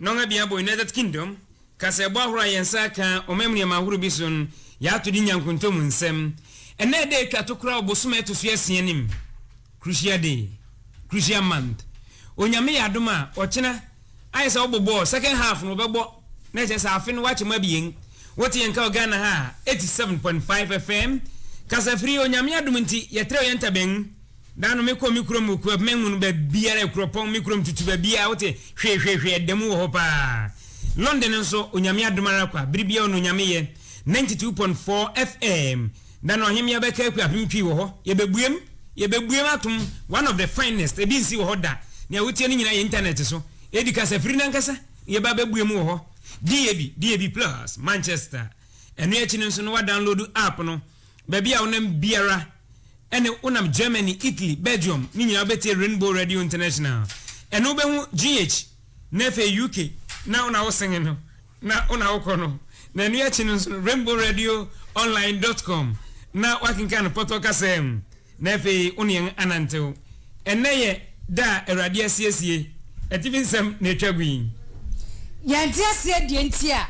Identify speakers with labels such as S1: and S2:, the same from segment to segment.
S1: Nnɔn abien abɔ United Kingdom kasaɛbɔ ahorow a yɛn nsa aka ɔmam nneɛma ahorow bi so no yɛ atode nya nkontom nsɛm. Ɛnnɛ ɛda a etwa to koraa wɔ bosome a ɛto so asia no mu, Crucial Day, Crucial Month, Onyame yɛ adom a, ɔkyena, ayɛ sɛ wɔbɔ bɔɔl, second half no wɔbɛbɔ, na ɛkyerɛ sɛ afe no wɔakyɛ mu abien. Wote yɛn nka wɔ Ghana ha a, 87.5 FM, Kasafiri, Onyame adom nti, yɛtrɛw yɛn ntaban mu. Da no me kɔ me kurom okua me nhunu ba biara ekuro pɔn me kurom tutu ba biara wote hwee hwee hwee ɛda mu wɔ hɔ paa London nso onyame adom ara kwa bere biara ɔno onyame yɛ 92.4 FM da no ɔhemea bɛka akua apem twi wɔ hɔ yɛbɛbuem yɛbɛbuem atom one of the finest ebi nsi wɔ hɔ da nea wotie no nyinaa yɛ internet so edi kasafiri no ankasa yɛba bɛbuem wɔ hɔ DAB DAB plus Manchester ɛno akyi no nso no wa download app no Baabi a wonam biara, ɛne wonam Germany, Italy, Belgium no nyinaa wobɛtie Rainbow Radio International. Ɛno wobɛhu GH na afei UK na wona wosenge no na wona wokɔ no. Na ɛno akyi no nso no, Rainbow Radio Online dot com na woakenkan no pɔtɔ kasaa mu. Na afei wo ne yɛn anantew. Ɛnnɛ yɛ da a Awurade asiesie. Atifi nsɛm na etwa gu yi. Yɛnte
S2: aseɛ deɛ nti a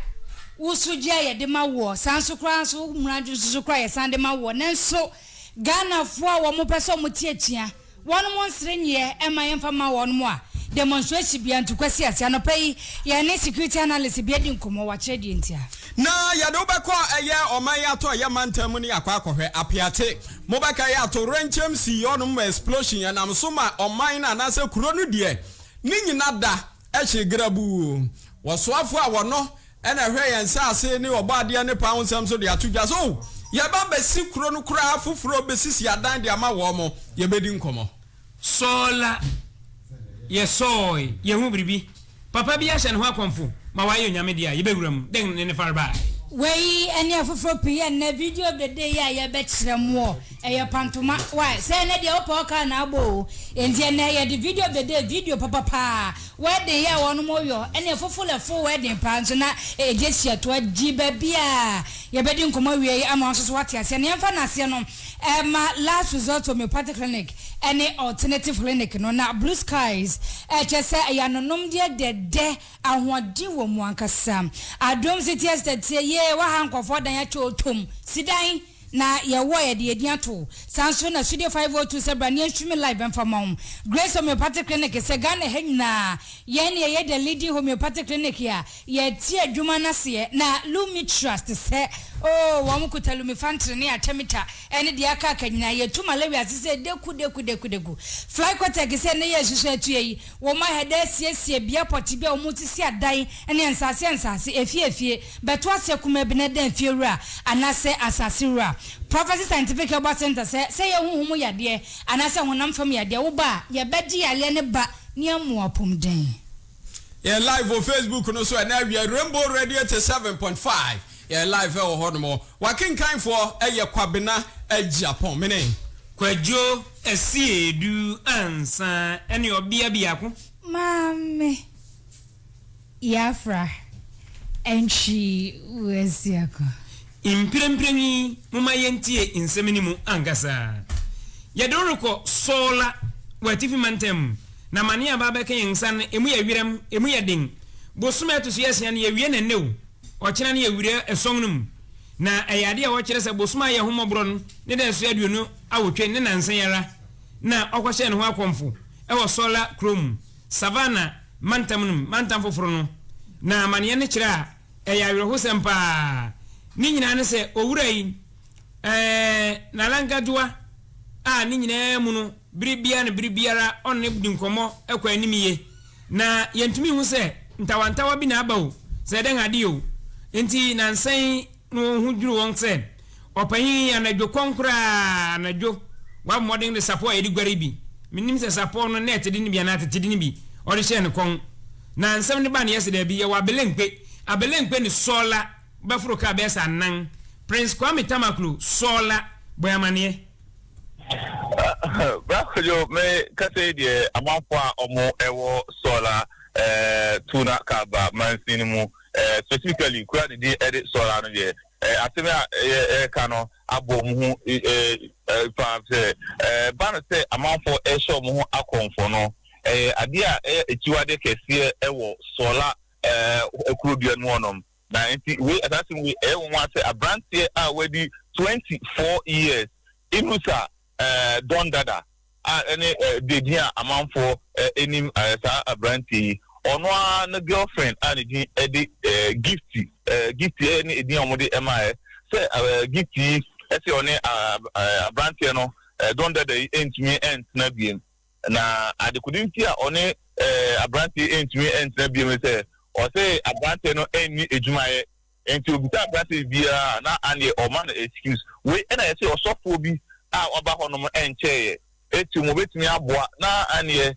S2: wo sogye a yɛde ma woɔ, saa nso koraa nso wo mmara dwonsoso koraa a yɛsan de ma woɔ. Nanso Ghanafoɔ a wɔpɛ sɛ wɔte atua, wɔnom nsere nyeɛ mma yɛmfa mma wɔnom a demonstration bia nti Kwasi Ase, anɔpa yi yɛne security analyst bi adi nkɔmmɔ, wakyerɛ deɛ nti a. Na yɛde wo
S3: bɛkɔ ɛyɛ ɔman yi atɔeɛ mantam mu ne akɔ akɔhwɛ Apeate Mobɛkae a towerɛnkyɛm sii hɔnom ma explosion ɛnam so ma ɔman no anaasɛ kuro no deɛ ne nyina da hyee grabuu. Wɔsoafoɔ a wɔno na ɛhwɛ yɛn nsaase ne ɔbɔadeɛ ne paa ho nsɛm nso de ato dwa sɛ oh yɛba abɛsi kuro no koraa foforɔ bɛsisi adan de ama wɔn, yɛbɛdi nkɔmmɔ. Sɔɔ la,
S1: yɛsɔɔe, yɛhu biribi. Papa bi ahyɛ ne ho akɔmfo ma wayɛ onyame de a, yɛbɛwura mu. Dɛn ne ne farebae? Wei ne
S2: afoforɔ pii yɛ nnɛ. Video dede yi a yɛbɛkyerɛ moɔ, ɛyɛ pantoma. Wai? Sɛ ɛnnɛ deɛ wopɛ ɔkaa na abɔ o. Enti ɛnnɛ yɛde video dede, video papa paa, wedding yɛ a wɔnom yɔ, ɛne fofol ɛfo wedding paa nso na ɛgye hyia toa di. Baabi a yɛbɛdi nkɔmmɔ awie yi ama wo nso so woate aseɛ no, yɛmfa no aseɛ no. ɛrema Last Resort Homeopathic Clinic ne Alternative Clinic no, na Blue Skies kyerɛ sɛ ɛyɛ anonomdeɛ dɛdɛ, ahoɔden wɔ mu ankasa. Adom City Estate teɛ yie wɔ ha, nkurɔfoɔ dan akyɛ wɔtɔm si dan na yɛwɔ a yɛde yɛn din ato, saa nso na Studio 502 sɛ bra ne yɛn streaming live bɛmfa mma wo, Grace Homeopathic Clinic sɛ Ghana ha nyinaa yɛn na yɛyɛ the leading homeopathic clinic a Yɛte adwuma no aseɛ na Lumi Trust sɛ oo wɔn kuta Lumefantrine ne Artemether ɛne deɛ aka aka nyinaa. Yɛtu malaria ase sɛ deku deku deku deku. Flycotex sɛ nnɛ yɛresusu atua yi, wɔn ahɛdɛ asiesie bea pɔtee bi a wɔn sisi adan ne nsaase nsaase, efie efie, bɛto aseɛ kumaa bi na ɛda efie wura anaasɛ asaase wura. Prophecy Scientific Herbal Center sɛ sɛ ɛyɛ honhom mu yadeɛ anaasɛ honam fam yadeɛ wo ba a, yɛbɛgye yareɛ no ba ne amu apomden. Yɛn
S3: live wɔ Facebook no so ɛnɛ awia, Rainbow Radio 87.5. Yɛn live ɛwɔ hɔ nom. Wakenkanfoɔ ɛyɛ Kwabena Agyapong. Mene. Kwadwo
S1: Asiedu Ansah ɛne ɔbea biako. Maame
S2: Yafrah Antwi Wasiako. Mprempren
S1: yi, momma yentie nsɛm no mu ankasa. Yɛde wo rekɔ Sɔɔla wɔ atifi mantam mu, na amane a aba abɛka yɛn nsa no, emu yɛ werɛm, emu yɛ den. Bosome a ɛto so asia no, yɛawie no nnɛ o, ɔkyena no yɛawura ason no mu. Na ɛyɛ ade a wɔkyerɛ sɛ bosome a ɛyɛ ho mmɔborɔ no ne da a ɛso aduonu awotwe ne nnansa yi ara na wɔkɔhyɛɛ ne ho akɔmfo wɔ Sɔɔla kurom, Savannah mantam no mu, mantam foforo no. Na amaneɛ no kyerɛ a Ɛyɛ awerɛhosɛm paa. Ne nyinaa ne sɛ owura yi, ɛɛ, Nana Nkajuwa, a ne nyinaa mu no bere biara ne bere biara ɔne no di nkɔmmɔ kɔ anim yiye, na yentumi nhu sɛ ntawantawa bi na aba o, sɛ dɛn ade o nti, nansa yi na wɔn ho dwiriw wɔn sɛ. Ɔpanyin yi, anadwo kɔn koraa, anadwo, wabɔ mmɔden de sapɔw a yɛde guare bi, minnim sɛ sapɔw no nɛɛte de no bi anaa tete de no bi, ɔde hyɛɛ ne kɔn. Na nsɛm no baa ne yɛ sɛ, Dabi, yɛwɔ abelemkpe, abelemkpe ne sɔɔla bɛforo kaa bɛyɛ sɛ anan. Prince Kwame Tamaklo, sɔɔla, bɔe amanneɛ.
S4: Bra Kojo, me kasa yi deɛ, amanfoɔ a wɔn wɔ sɔɔla ɛɛ Tuna Kaba mansin no mu ɛɛ specifically kura a ne din de sɔɔla no deɛ, Asɛm a yɛreka no abɔ wɔn ho fa sɛ, ɛba no sɛ amanfoɔ rehyɛ wɔn ho akɔmfo no, ɛyɛ adeɛ a ɛyɛ akyiwadeɛ kɛseɛ wɔ Sɔla kuro dua no mu hɔnom. Na nti wei, saa asɛm wei, ɛyɛ nwonwa sɛ aberanteɛ a wadi twenty four years, Inusa Don Dada a ɛne de din a amanfoɔ nim saa aberanteɛ yi, ɔno ara ne girlfriend a ne din de Gifty, Gifty ne edin a wɔde maaɛ, sɛ Gifty yi se ɔne aberanteɛ no, Don Dada yi ntumi ntena biem. Na adekode nti a ɔne aberanteɛ yi ntumi ntena biem ne sɛ, ɔse aberanteɛ no nni adwuma yɛ. Enti obisa aberanteɛ biara a na aneɛ ɔma no excuse. Wei ɛna yɛse ɔsɔfoɔ bi a waba hɔ nom ɛnkyɛeɛ eti wɔn betumi aboa na aneɛ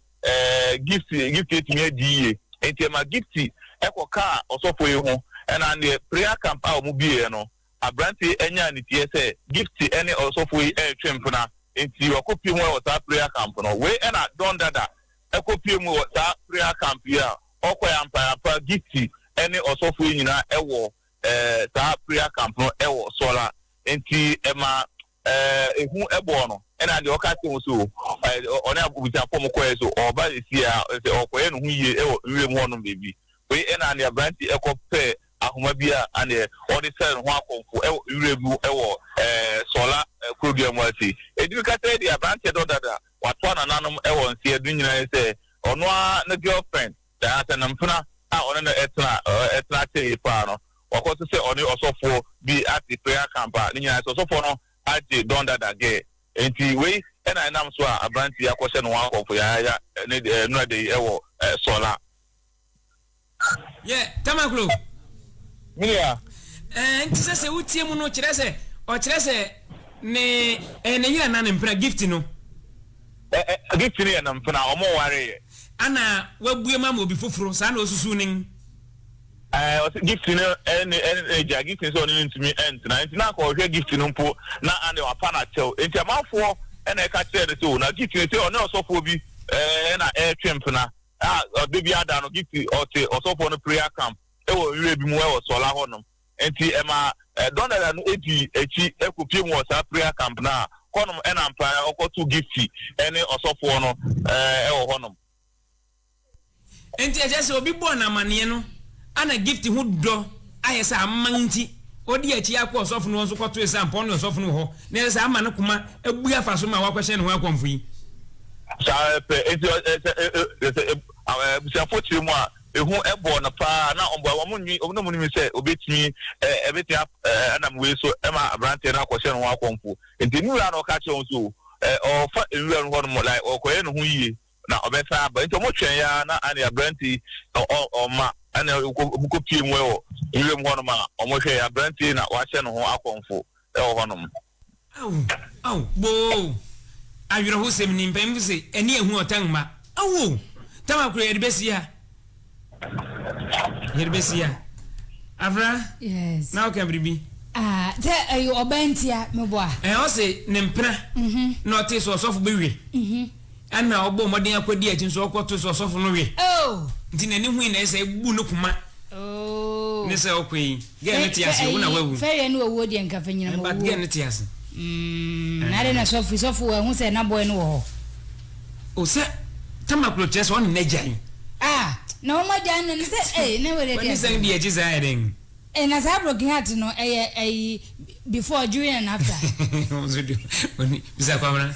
S4: Gift Gift atumi adi yie. Enti ɛma Gift ɛkɔ kaa ɔsɔfoɔ yi ho ɛna aneɛ prayer camp a wɔn bieɛ no aberanteɛ yi ɛnyaa niteɛ sɛ Gift ɛne ɔsɔfoɔ yi ɛretwe mpena enti wakɔ pie mu ɛwɔ saa prayer camp no. Wei ɛna Don Dada ɛkɔ pie mu wɔ saa prayer camp yi a. Ɔkɔe ampa ara pa, Gifty ne ɔsɔfo yi nyinaa wɔ saa prayer camp no wɔ Sola nti ɛma ehu bɔɔ no ɛna deɛ ɔka kyerɛ wɔn so ɔne abusuafoɔ wɔn kɔɛ so ɔba sie a sɛ ɔkɔyɛ ne ho yie wɔ nwuram hɔnom baabi wei ɛna deɛ aberante ɛkɔ pɛ ahoma bi a aneɛ ɔde sɛre ne ho akɔmfo wɔ nwuram mu wɔ Sola kurodua mu ase ɛdi bi ka sɛ deɛ aberante dɔ dada watoa nananom wɔ nseɛ do nyinaa sɛ Ɔno ara ne girlfriend, anaasɛ ne mpena a ɔne no tena tena akyɛ yie paa no, wakɔ so sɛ ɔne ɔsɔfoɔ bi ate prayer camp a ne nyinaa sɛ ɔsɔfoɔ no agye Don Dada girl. Enti wei na ɛnam so a aberanteɛ yi akɔhyɛ ne ho akɔmfo yayaaya ne nnurada yi wɔ Sɔla. Yɛ
S1: Tamaklo. Miriam.
S4: Ɛɛ, enti
S1: sɛ sɛ wotie mu no, kyerɛ sɛ ɔkyerɛ sɛ ne ɛyɛ ne yere anaa ne mpena, Gift no?
S4: Ɛ ɛ, Gift no yɛ ne mpena, wɔnwareeɛ. Ana
S1: wabue mu ama obi foforo, saa na ɔsusu no? Ɛɛ,
S4: ɔse Gift no ne ne agya, Gift nso ɔne no ntumi ntena, enti na anka ɔhwɛ Gift no mpo na ane wapa no akyɛw. Enti amanfoɔ na ɛka kyerɛɛ no sɛ o, na Gift no se ɔne ɔsɔfoɔ bi ɛɛ na ɛretwe mpena. a ɔda biara da no gye ɔte ɔsɔfoɔ no prayer camp wɔ nwura bi mu wɔ Sɔla hɔnom. Nti ɛma Donella no dii akyi kɔpie mu wɔ saa prayer camp no a hɔnom na ampa ara ɔkɔto Gifty ne ɔsɔfoɔ no wɔ hɔnom.
S1: Nti ɛkyerɛ sɛ obi bɔɔ no amaneɛ no Ana Gift ho dɔ ayɛ sɛ aman nti, odii akyi ara kɔɔ ɔsɔfo no hɔ nso kɔtoe sampɔn ne ɔsɔfo no wɔ hɔ, na ɛsɛ sɛ ama ne koma bu afa so ma wɔakɔhyɛ ne ho akɔmfo yi. Saa
S4: pɛ, enti ɔ, ɛ, sɛ, ɛ, ɛ, sɛ, ɛ, a, ɛ, abusuafo kyerɛ mu a, ehu bɔɔ no paa. Ná wɔn, wɔn nwi, wɔn na wɔnim sɛ obetumi, ɛ, ɛbetumi ap, ɛ, ɛnam wei so ma aberanteɛ no akɔhyɛ ne ho akɔmfo. Enti ne wura na ɔka kyerɛɛ wɔn sɛ, o, ɛ, ɔfa nwura no hɔnom, like, ɔkɔyɛ ne ho yiye. na ɔbɛsan aba. Nti ɔmo twɛn yɛ ara na anne aberante yi na ɔ, ɔma ɛna ɔkɔ, ɔmo kɔ pie mu ɛwɔ nwuram hɔnom a ɔmo hwɛ yɛ aberante yi na wahyɛ ne ho akɔmfo ɛwɔ hɔnom. Aw!
S1: Aw! Boo! Awerɛhosɛm ni, mpanyimfo se, ɛne ɛhu ɔtan mma. Aw o! Tam akoro yɛde bɛsi ha? Yɛde bɛsi ya. Afra, Yes.
S2: na woka biribi.
S1: Ah, sɛ
S2: ɛyɛ ɔbaa nti a, meboa. Ɛɛ, ɔse ne
S1: mpena na ɔtee sɛ ɔsɔfo bi we. Ɛna ɔbɔɔ mmɔden akɔdi akyi nso ɔkɔtoo sɛ ɔsɔfo no we. Oh! Nti n'ani hui na ɛsɛ sɛ ebu ne koma Oh! ne sɛ ɔkɔ yi. Girl no te ase o, wo na wawu. Fɛ yɛ ne owuo deɛ nka fɛ
S2: nyinam owuo. But girl no te ase.
S1: Mm, na
S2: adɛ na sɔfo, sɔfo wɔ ɛho sɛ na boy no wɔ hɔ. O
S1: sɛ, tama kuro kyerɛ sɛ ɔne na gyan. Ah, na
S2: wɔn agya no ne sɛ, eh, na wɛrɛ di ase. Wani sɛn bi ɛgye saa
S1: ɛdɛn. Eh, na saa broken
S2: heart no, ɛyɛ ɛyi, before, during and after. Ɔnso di,
S1: ɔni, bisa kwamra.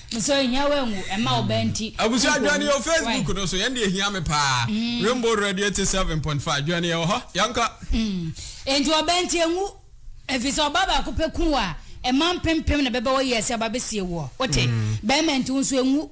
S2: So ehia woangu mma wo ba nti? Abusua Adwene yɛ wɔ
S3: Facebook no so, yɛn deɛ ehia me paa. Mm. Rainbow Radio 87.5, Adwene yɛ wɔ hɔ,
S2: yɛnkɔ.
S3: Mm.
S2: Enti ɔba
S3: nti
S2: engu, efisɛ ɔba baako pɛ
S3: ku
S2: wo a, mma mpempem na bɛbɛwɔ yie sɛ babesie woɔ. Wote? Mm. Bɛrima nti wo nso engu.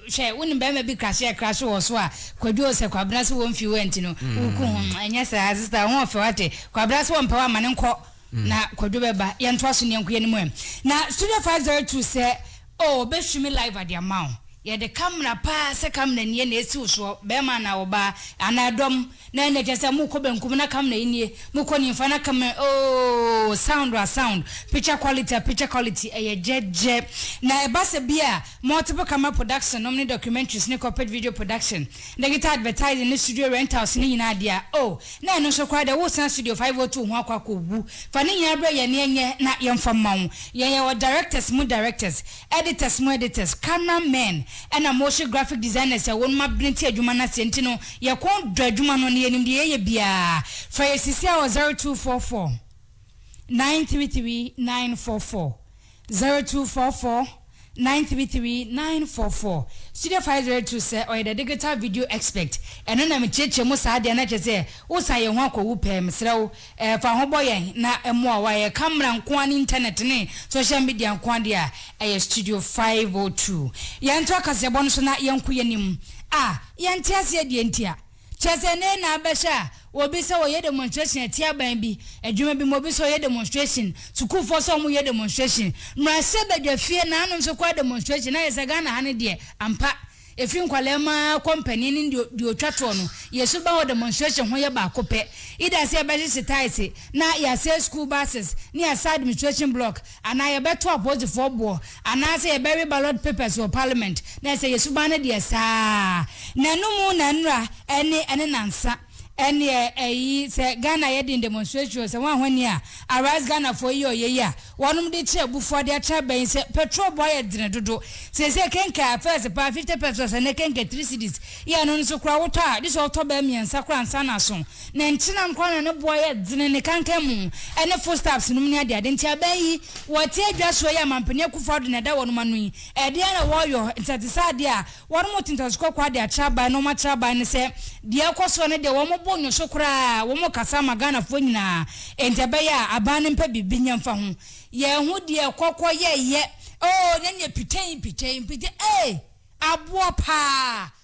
S2: Hwɛ, wonim bɛrima bi krahye a krahye wɔ so a, Kwadu Osɛ, Kwabena sɛ wɔmfi wo anti no, mm. woku ho. Ɛnyɛ saa, sista, ho ɔfɛ wate. Kwabena sɛ wɔmpɛ wo ama no nkɔ. Na kwadwo bɛba yɛntoa so neɛnko yɛne mu ɛ na studio five zero two sɛ oh ɔbɛ streame live ade ama wo yɛde camera paa sɛ camera nie na ɛsi wo soɔ bɛɛma anaa ɔbaa anaa ɛdɔm na ɛnɛ kyerɛ sɛ mokɔ bɛnkum na camera yi nie mokɔ nimfa na camera ooh sound a sound picture quality a picture quality ɛyɛ gyɛgyɛ na ɛba sɛ bi a Multiple camera production nom ne documentaries ne corporate video production, digital advertising ne studio rentals ne nyinaa dea oh na ɛno nso koraa deɛ wo san studio 502 ho akɔ akɔ wu fa ne nyinaa brɛ yɛn na yɛnyɛ na yɛmfa mma wo yɛn yɛwɔ directors mu directors editors mu editors camera men ɛna motion graphic designers a wɔnom abene te adwuma no aseɛ nti no yɛkɔn dɔ adwuma no na yɛnim deɛ yɛyɛ biaa frɛ yɛ sisi a wɔ 0244. nine three three nine four four zero two four four nine three three nine four four studio five zero two sɛ ɔyɛ the digital video expect ɛno na mekyerɛkyerɛ mu saa deɛ na kyerɛ sɛ wosan yɛn ho akɔwu pɛɛ mesrɛ wo ɛɛ fa ho bɔ yɛn na ɛmoa wa yɛ camera nkoa ne internet ne social media nkoa deɛ a ɛyɛ studio five o two yɛn to akaseɛbɔ no so na yɛn ko yɛn nim a yɛn te aseɛ deɛ ntia Kyerɛ sɛ, nnɛ yi na abɛhyɛ a obi sɛ ɔyɛ demonstration atia aban bi, adwuma bi mu, obi sɛ ɔyɛ demonstration, sukuufoɔ sɛ wɔyɛ demonstration, mmarahyɛ badwafie nanom nso kɔ demonstration na ayɛ sɛ Ghana ha no deɛ, ampa, ɛfiri nkwadaa mu ara kɔ mpanin ne deɛ ɔtwa toɔ no, yɛn suban wɔ demonstration ho yɛ baako pɛ, either sɛ yɛbɛhyehye tiles na yɛasɛe school buses na yɛasɛe administration block, anaa yɛbɛto apolisifoɔ boɔ, anaasɛ yɛbɛwe ballot papers wɔ parliament, na ɛsɛ yɛn suban no deɛ saa ara. N'anom na nnora ɛne ɛne nansa. Ɛnneɛ ɛyi sɛ Ghana yɛ den demonstration o, sɛ wɔn ahoni a Arise Ghanafoɔ yi ɔyɛ yi a wɔnom de kyerɛ abufuo ade atena abɛn sɛ petrol boɔ ayɛ dene dodo. Seesei kenka a first paa fifty pesos ɛnnɛ kenka three cedis, yɛ ɛno nso koraa wotɔ a gye sɛ wotɔ bɛɛ mmiɛnsa koraa ansa na aso. Ne nkyenam koraa na ne boa yɛ dzene, ne kankan mu ne footsteps nom ne adeade. Ntsi aban yi, wɔtse edwasowa yi a Mampanin Akuffo Addo na ɛda wɔnom ano yi, ɛdeɛn na wɔɔyɔ? Ntsi ɛtse sɛ adeɛ a wɔnom tse ntɔso kɔkɔɔ ade akyerɛ aban na wɔn akyerɛ aban ne sɛ, deɛ ɛkɔ soɔ ne deɛ wɔn bo nnwo so koraa, wɔn kasa ama Ghanafoɔ nyinaa, enti ɛbɛyɛ a aban no mpɛ biribi nyɛ mfa ho. Yɛn ho deɛ kɔkɔ yɛyɛ. Oh, na neɛ pitei pitei mpitei eei aboɔ paa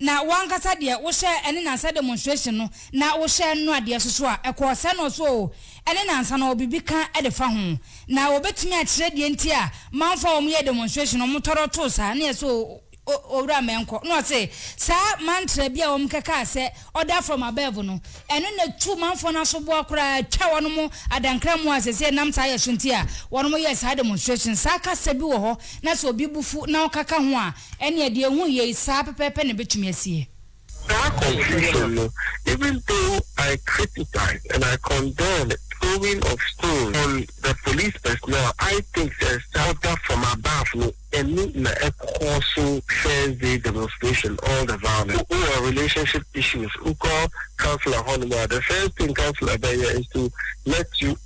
S2: Na wo ankasa deɛ wohyɛɛ ɛne nansa demonstration no na wohyɛɛ no adeɛ soso a, ɛkɔɔ sɛn no so oo, ɛne nansa no biribi ka de fa ho? Na wɔbɛtumi akyerɛ deɛ nti a manfoɔ a wɔyɛɛ demonstration no wɔtɔrɔ too saa? Ne yɛse oo, Owura Mɛnkɔ. Ne ɔse saa mantra bi a wɔkɛkaa sɛ order from above no, ɛno na ɛtu manfoɔ no asoboa koraa twa wɔnom adankramoɔ a seesei ɛnam saa yɛ so nti a wɔnom yɛɛ saa demonstration. Saa kasa bi wɔ hɔ na sɛ obi bo fu na ɔkaka ho a, Ɛnneɛ, deɛ ɛhu yei saa pɛpɛɛpɛ na ɛbɛtumi asie. Saa confusion
S4: no, even though I criticize and I condemn throwing of stones on the police personnel, I think sɛ saa da from above no ani na ɛkɔɔ so first day demonstration, all the violence. Wowɔ relationship issues, wokɔ councillor hɔnom a, the first thing councillor bɛyɛ is to let you.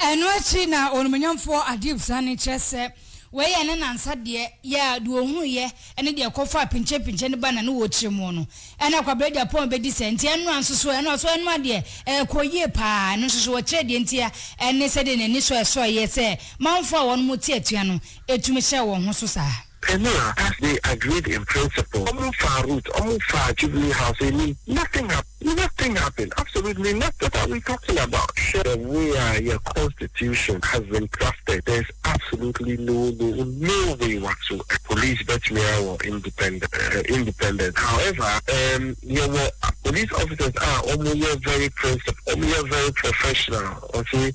S5: Ɛno akyi na
S2: ɔnumonyamfoɔ Adib sane kyerɛ sɛ wei yɛ ne nansa deɛ yɛ a deɛ ɔhunuiɛ ne deɛ ɛkɔfaa pinkyenpinkyen no ba na ne wɔkyere mo no ɛna Kwabena Agyapong bɛdi sɛ nti ɛnoa nso so ɛnoa so ɛnoa deɛ ɛkɔ yie pa ara ɛno nso so wɔkyerɛ deɛ nti a ɛne sɛdeɛ n'ani sɔ ɛsɔeɛ sɛ manfoɔ a wɔnom te atua no tumi hyɛɛ wɔn ho so saa. Peniel as
S6: they agreed in principle ɔmo faa route ɔmo faa jubilee house anim nothing hap nothing happen absolutely noth what are we talking about hwɛ the way a yɛ constitution has been drafted there is absolutely no no no way whatsoever police bɛtumi awɔ independent eh independent however ehm yɛwɔ police officers a ɔmo yɛ very principle ɔmo yɛ very professional ɔse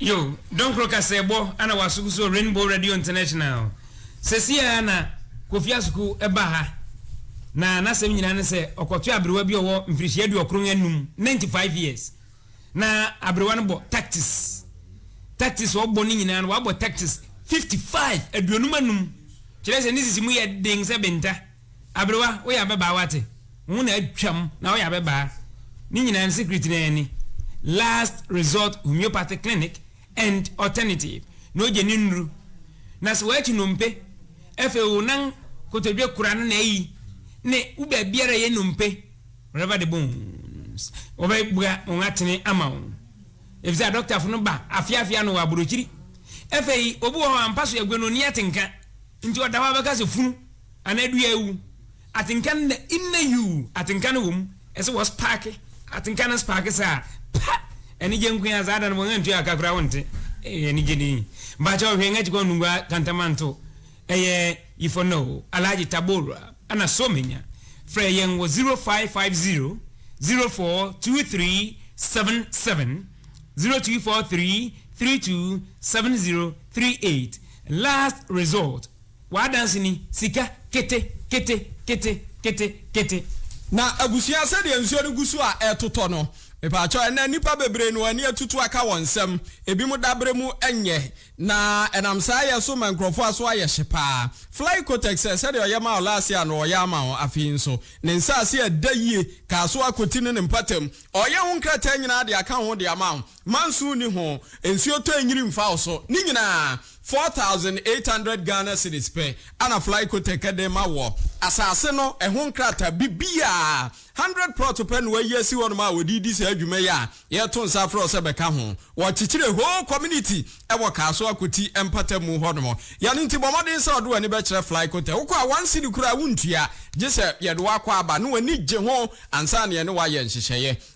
S2: Yo,
S1: Donkro kaseɛbɔ na wasoko so wɔ Rainbow Radio International. Sɛsi ara na Kofi Asoko ba ha, na n'asɛm nyinaa ne sɛ ɔkɔtoa aberewa bi a ɔwɔ mfirihyia aduɔkron anum, 95 years, na aberewa no bɔ tactics. Tactics a ɔbɔ no nyinaa no, wabɔ tactics 55, aduonum anum. Kyerɛ sɛ ne sisi mu yɛ den sɛ benta. Aberewa, woyɛ ababaa wate? Wo ho na atwam na woyɛ ababaa? Ne nyinaa no secret no ara ni, Last Resort Homeopathic Clinic and Alternative na ogye ne nnuru. Na sɛ woakyi nnompe, afei wo nan kotodwe kora no na ayi, ne wo baabiara a ɛyɛ nnompe, wherever the bones, wɔbɛbua wɔn atene ama wo. Efisɛ adɔktafo no ba afeafe ano wɔ aburokyiri. Afei obi wɔ hɔ a mpa so yɛ gwenoni atenka, nti ɔda hɔ a wobɛka sɛ funu. Ana dua awu? Atenka no na inna yuu atenka no wom ɛsɛ wɔ sparke atenka no sparke saa pa anigye nkoaa saa da no wɔn antua ka koraa wonte ee anigye ni mpakyɛw hwɛ nga kyikɔ nungua kantamanto ɛyɛ yifɔ no o Alhaji Tabora ana Somenya frɛ yɛn wɔ 0550 042377 0243 327038 last resort W'adanse ni, sika, kete, kete, kete, kete, kete.
S3: Na abusua sɛdeɛ nsuo no gu so a ɛretotɔ no, mepaakyɛw, ɛnnɛ nnipa bebree na wɔn ani atutu aka wɔn nsam, ebinom daberɛ mu nyɛ, na ɛnam saa yɛ so ma nkurɔfoɔ aso ayɛ hye paa. Fly Kotex sɛ, sɛdeɛ ɔyɛ maa wo last year no ɔyɛ ama wo afei nso. Ne nsaase a ɛda yie, kaa so akɔti ne ne mpɔtam. Ɔreyɛ wo nkrataa nyinaa de aka wo ho de ama wo. Manso nni ho, nsuo tɔ nyini mfa wo so. Ne nyinaa, 4800 Ghana cedis pɛ na Flycotek de rema woɔ. Asaase no, ɛho nkrataa, biribiara, 100 prɔto pɛ na wɔayi asi hɔnom a wɔde redi saa dwuma yi a yɛreto nsa afrɛ wo sɛ bɛka ho. Wɔrekyekyere whole community wɔ Kasoa Koti mpatamu hɔnom. Yɛn nti, bɔ mmɔden sɛ wode w'ani bɛkyerɛ Flycotek. Wokɔ a, one cedi koraa wontua, gye sɛ yɛde wo akɔ aba na w'ani gye ho ansa na yɛne wo ayɛ nhyehyɛeɛ.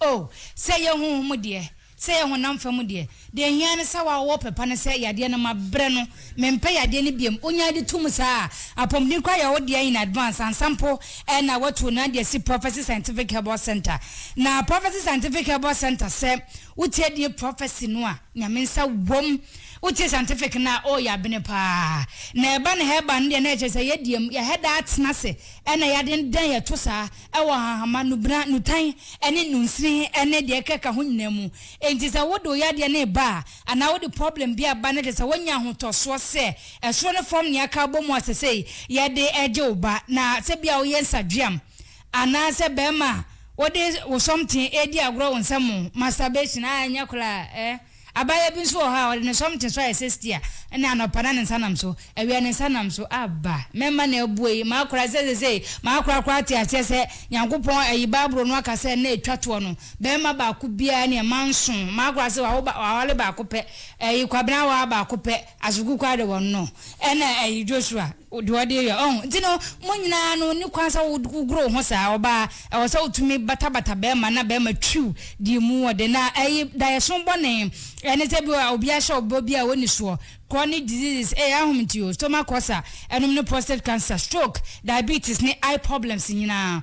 S2: O, sɛ ɛyɛ honhom mu deɛ, sɛ ɛyɛ honam fam deɛ, deɛ ɛhia ne sɛ woa wowɔ pɛpa ne sɛ yadeɛ no mabrɛ no, mempɛ yadeɛ no biom, wonyaa di to mu saa a, apɔmuden koraa yɛ wo deɛ in advance ansa mpo na watu no ade asi Prophecy Scientific Herbal Centre na Prophecy Scientific Herbal Centre sɛ wotie die prophecy no a Nyame nsa wom, wotie scientific no a oh yɛabene paa na ɛba no herbal no deɛ na ɛkyerɛ sɛ yɛdie mu, yɛhɛdaa tena ase na yɛadendan yɛto saa. wɔ nhahamma, nnubena, nnutan ne nnunsini ne deɛ ɛkeka ho nyinaa mu. Enti sɛ wode wo yadeɛ no reba a, anaa wode problem bi reba na ɛsɛ sɛ wonya ahotɔsoɔ sɛ ɛsoro ne fam nea aka abɔ mu a sesei yɛde regye wo ba, na sɛ bia woyɛ nsadweam anaa sɛ barima a wode wo something redi agorɔ wo nsa mu, masturbation, ah ɛnyɛ koraa eh. Abaayewa bi nso wɔ hɔ a, ɔde ne sɔm te so ayɛ sɛ stia, na anɔpa na ne nsa nam so, awia ne nsa nam so. Aba! Mɛma no abue yi. Makora sɛ seesei makorakora ate aseɛ sɛ Nyankopɔn ayi Bible no aka sɛ nna a ɛtwa toɔ no, barima baako biara ne mma nson. Makora sɛ wawo ba, waware baako pɛ, ayi, kwabenawaa baako pɛ. Asoku koraa de wɔn no ɛna ɛyi Joshua deɛ ɔde yɛ ɔho nti no mo nyinaa no ni kwan sɛ wogoro wo ho saa ɔbaa ɛwɔ sɛ wotumi batabata bɛɛma na bɛɛma twiw deɛ mu ɔde na ɛyi daeɛso bɔne ɛne sɛ bi a obi ahyɛ ɔbɔ bi a ɔni soɔ chronic diseases ɛyɛ ahom nti o stomach ulcer ɛnom ne prostate cancer stroke diabetes ne eye problems nyinaa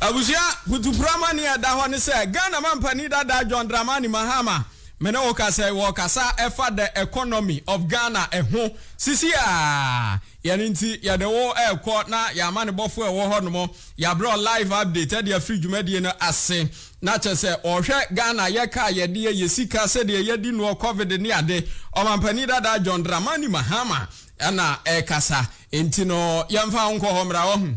S3: Abusua putuporɔ amanneɛ a ɛda hɔ ne sɛ, Ghana mampanin dada John Dramani Mahama, me ne wo kasa yi, wɔrekasa ɛfa the economy of Ghana ɛho sisi a, yɛn nti yɛde wo ɛrekɔ na yɛn amanebɔfoɔ ɛwɔ hɔ nom, yɛabrɛ wo live update ɛde afiri dwumadie no ase. Na kyɛ sɛ ɔhwɛ Ghana yɛ car yɛ deɛ, yɛ sika, sɛdeɛ yɛdi noɔ, covid ne ade, ɔmampanin dada John Dramani Mahama ɛna ɛrekasa, nti no yɛmfa wo nkɔ hɔ mmra, wahu.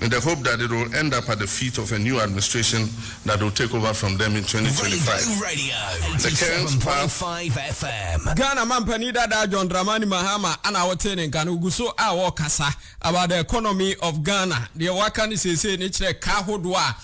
S7: in the hope that it will end up at the feet of a new administration that will take over from them in twenty twenty five. The
S5: current
S7: path.
S5: Ghana mampanin dada
S3: John Dramani Mahama a na wotee ne nka no gu so a ɔrekasa about the economy of Ghana. Deɛ waka no seesei no kyerɛ ka ahodoɔ a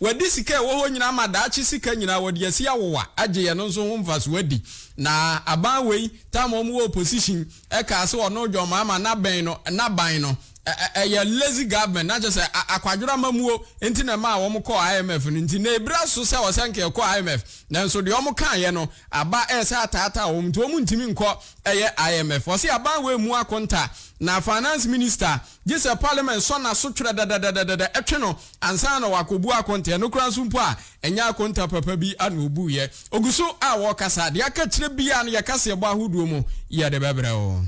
S3: Wɔadi sika a ɛwɔ hɔ nyinaa ama daakye sika nyinaa a wɔde asi awowa agye yɛn no nso ho mfaso adi. Na aban wei time a wɔwɔ opposition ɛkaa sɛ ɔno John Mahama n'abɛn no n'aban no ɛyɛ lazy government na kyerɛ sɛ akwadworɔ amamuo nti na ɛmaa wɔn kɔɔ IMF no nti na ɛbira so sɛ ɔsɛ nka ɛkɔ IMF nanso deɛ wɔn kaeɛ no aba ɛsɛ ataataa wɔn nti wɔn ntumi nkɔ ɛyɛ IMF. Ɔse aban wei mmu akonta na finance minister gye sɛ Parliament sɔ n'aso twerɛ dɛdɛdɛdɛdɛdɛ twe no ansa na wakɔbu akonta, ɛno koraa nso mpo a ɛnyɛ akonta papa bi na ɔbuiɛ. Ɔgu so a ɔrekasa, deɛ aka akyire biara no yɛ kaseɛbɔ ahodoɔ mu yɛde bɛbrɛ wo.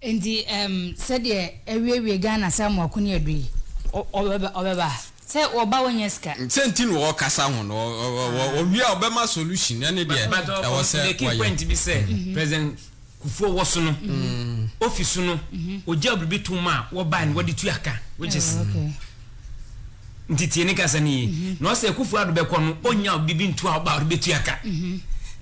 S3: Nti
S2: ɛm sɛdeɛ awiewie Ghana saa Mako ne Adu yi, ɔbɛba ɔbɛba, sɛ ɔba ɔnyɛ sika. Sɛ nti na ɔrekasa
S3: ho no, ɔwie a ɔbɛma solution, ɛne deɛ ɛwɔ sɛ ɔyɛ.
S1: Kufuor wɔ so no, ofi so no, ogyaa biribi toom ma wɔbae no wɔde tua ka, which is nti tie ne kasa no yie na ɔsɛ Akufo Addo bɛkɔ no ɔnya ɔde bi nto a ɔba ɔde bɛtua ka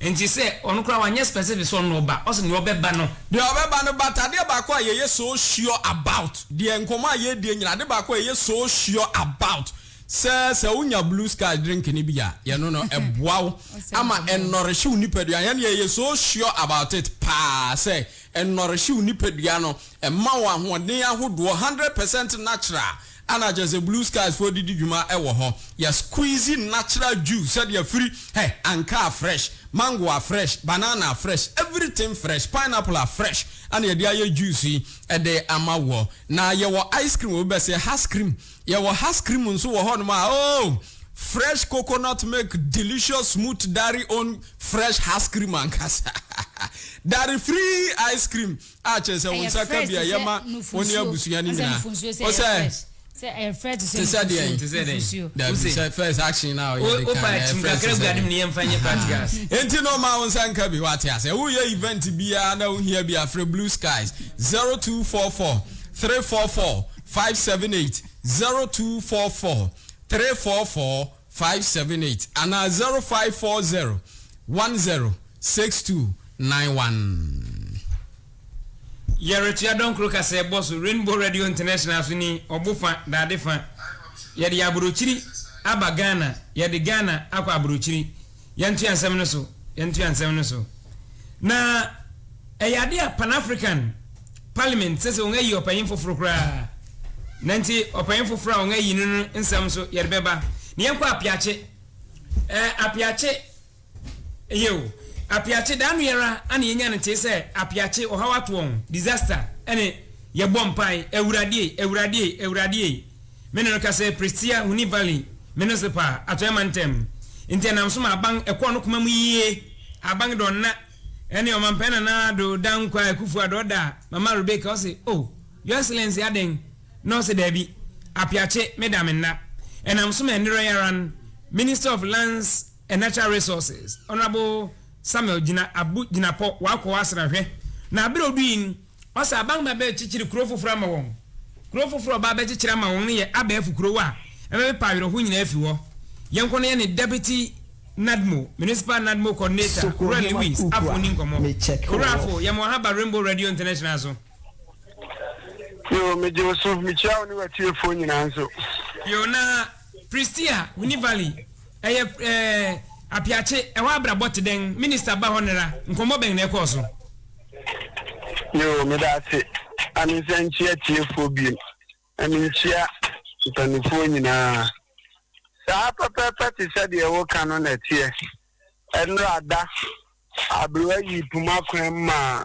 S1: nti sɛ ɔno koraa wanyɛ specific sɛ ɔno ɔba ɔsɛ deɛ ɔbɛba no deɛ ɔbɛba no but
S3: adeɛ baako a yɛyɛ so sure about deɛ nkɔmmɔ a yɛredie nyina ade baako a yɛyɛ so sure about Sɛ sɛ wonya blue sky drink no bi a yɛ no no ɛboa wo ama ɛnɔrehye wo nipadua yɛn yɛ yɛ so sure about it paa sɛ ɛnɔrehye wo nipadua no ɛma wo ahoɔden ahodoɔ hundred percent natural ana kyɛ sɛ blue skies foɔ didi dwuma ɛwɔ hɔ yɛ squeeze natural juice sɛdeɛ afiri hɛ anka a fresh mango a fresh banana a fresh everything fresh pineapple a fresh ana yɛde ayɛ juice yi ɛde ama woɔ na yɛwɔ ice cream obi bɛsɛ has cream Yɛwɔ has cream nso wɔ hɔnom a oh! Fresh coconut milk delicious smooth dairy own fresh has cream ankasa. Dairy free ice cream a kyerɛ sɛ wo Ɛyɛ nsa ka fresh bi a te sɛ yɛma wo ne nufusuo. abusua no Ɔsɛ nyinaa. nufusuo sɛ Wo ɛyɛ sɛ fresh. Sɛ ɛyɛ fresh
S2: te sɛ te sɛ deɛn? Te sɛ dɛn? nufusuo. Dabi
S3: Wose- sɛ first action a ɔyɛ de Wo- wopa kan ɛyɛ kyim fresh
S1: kakra te sɛ gua no mu na yɛmfa nyɛ dɛn? practicals.
S3: Ahaa. Enti na ɔma wo nsa nka bi wate aseɛ. Woyɛ event biara na wohia bi a frɛ Blue Skies 0244 344 five seven eight zero two four four three four four five seven eight anaa zero five four zero one zero six two nine
S1: one. Yɛretoa Dɔnkoro kaseɛbɔ so, Rainbow Radio International so ni, ɔbo fa, dade fa. Yɛde aburokyiri aba Ghana, yɛde Ghana akɔ aburokyiri. Yɛntoa nsɛm no so, yɛntoa nsɛm no so. Na ɛyɛ ade a Pan-African Parliament sɛ sɛ wɔayi ɔpanyin foforo koraa. Na nti ɔpanyin foforo a wɔayi no no nsɛm nso yɛde bɛba. Na yɛnkɔ apeakye. Ɛɛ apeakye yɛ o. Apeakye daa no yɛra ana yɛnya no tee sɛ apeakye ɔhaw ato wɔn, disaster, ɛne yɛbɔ mpae, Awurade ei, Awurade ei, Awurade ei. Me ne no ka sɛ Prestea, Huni Valley, Minisipa, Atɔeɛ Mantam. Nti ɛnam so ma aban ɛkɔɔ no koma mu yie. Aban dɔ nna ɛne Ɔmampanin Nana Addo Dankwah Akuffo Addo ɔda Mama Rebecca ɔse oh Your Excellency adɛn na ɔse daabi Apiakye me da me nna ɛnam so ma ɛnnerɛ yi ara no Minister of Lands and Natural Resources Honourable Samuel Gyina Abu Gyinapɔ wakɔ Asra hwɛ na aberɛ odui no Ɔsɛ aban ma ɛbɛkyekyere kurow foforo ama wɔn. Kurow foforo a ɔba abɛkyekyere ama wɔn no yɛ abɛɛfo kurow a ɛbɛpepa awerɛhow nyinaa afi hɔ. Yɛn kɔn no yɛ ne Deputy NADMO, Municipal NADMO Coordinator, Owura Lewis Afo nni nkɔmmɔ. Owura Afo, yɛma w'ahaba Rainbow Radio International so.
S6: Yoo, megye wo so. Mikyia wo ne w'atiefoɔ nyinaa nso. Yoo, na
S1: Prestea, Huni Valley, Ɛyɛ ɛɛ Apiakye, ɛhɔ abrabɔ te dɛn? Minister ba hɔ nnɛra, nkɔmmɔ bɛn na ɛkɔɔ so?
S6: Yoo, meda ase. Ame nsa nkyia atiefoɔ biom, na menkyia mpaninfoɔ nyinaa. Saa pɛpɛɛpɛ te sɛ deɛ woka no na ɛteɛ. Ɛnnora da, aberewa yii poma kwan maa.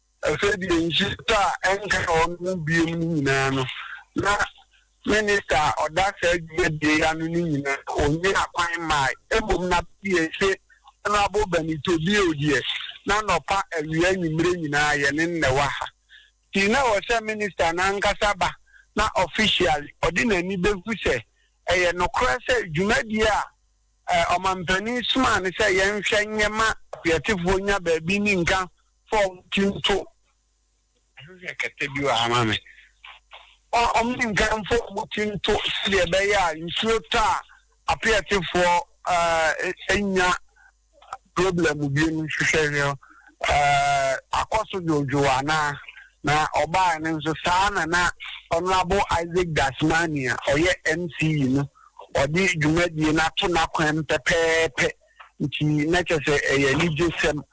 S6: Afei deɛ nhyehyɛeɛ a ɛnka wɔ me ho biom no nyinaa no, na Minister a ɔda saa dwumadie yi ano no nyinaa ɔnyaa kwan mmaeɛ. Mmom na PHA Honourable Banito Bio deɛ, na nɔpa, awia, anwummerɛ nyinaa yɛ ne na ɛwɔ ha. Nti na ɛwɔ sɛ Minister no ankasa ba na officially ɔde n'ani bɛhu sɛ ɛyɛ nokorɛ sɛ dwumadie a Ɔmampanin somaa no sɛ yɛnhwɛ nyɛ ma Kweatefoɔ nya baabi ne nka fɔm kinto ɛhwehwɛ kɛtɛ bi wɔ ha ma me ɔmo ne nkanfo ɔmo kinto sɛdeɛ ɛbɛyɛ a nsuo tɔ a apeɛtefoɔ ɛɛ nya problem bi mu hwehwɛ hwɛ ɛɛ akɔ so dwodwo anaa na ɔbaa no nso saa na na ɔnoabo Isaac Dasmani a ɔyɛ MCE no ɔde dwumadie no ato n'akwan pɛpɛɛpɛ nti na kyɛ sɛ ɛyɛ anigye sɛm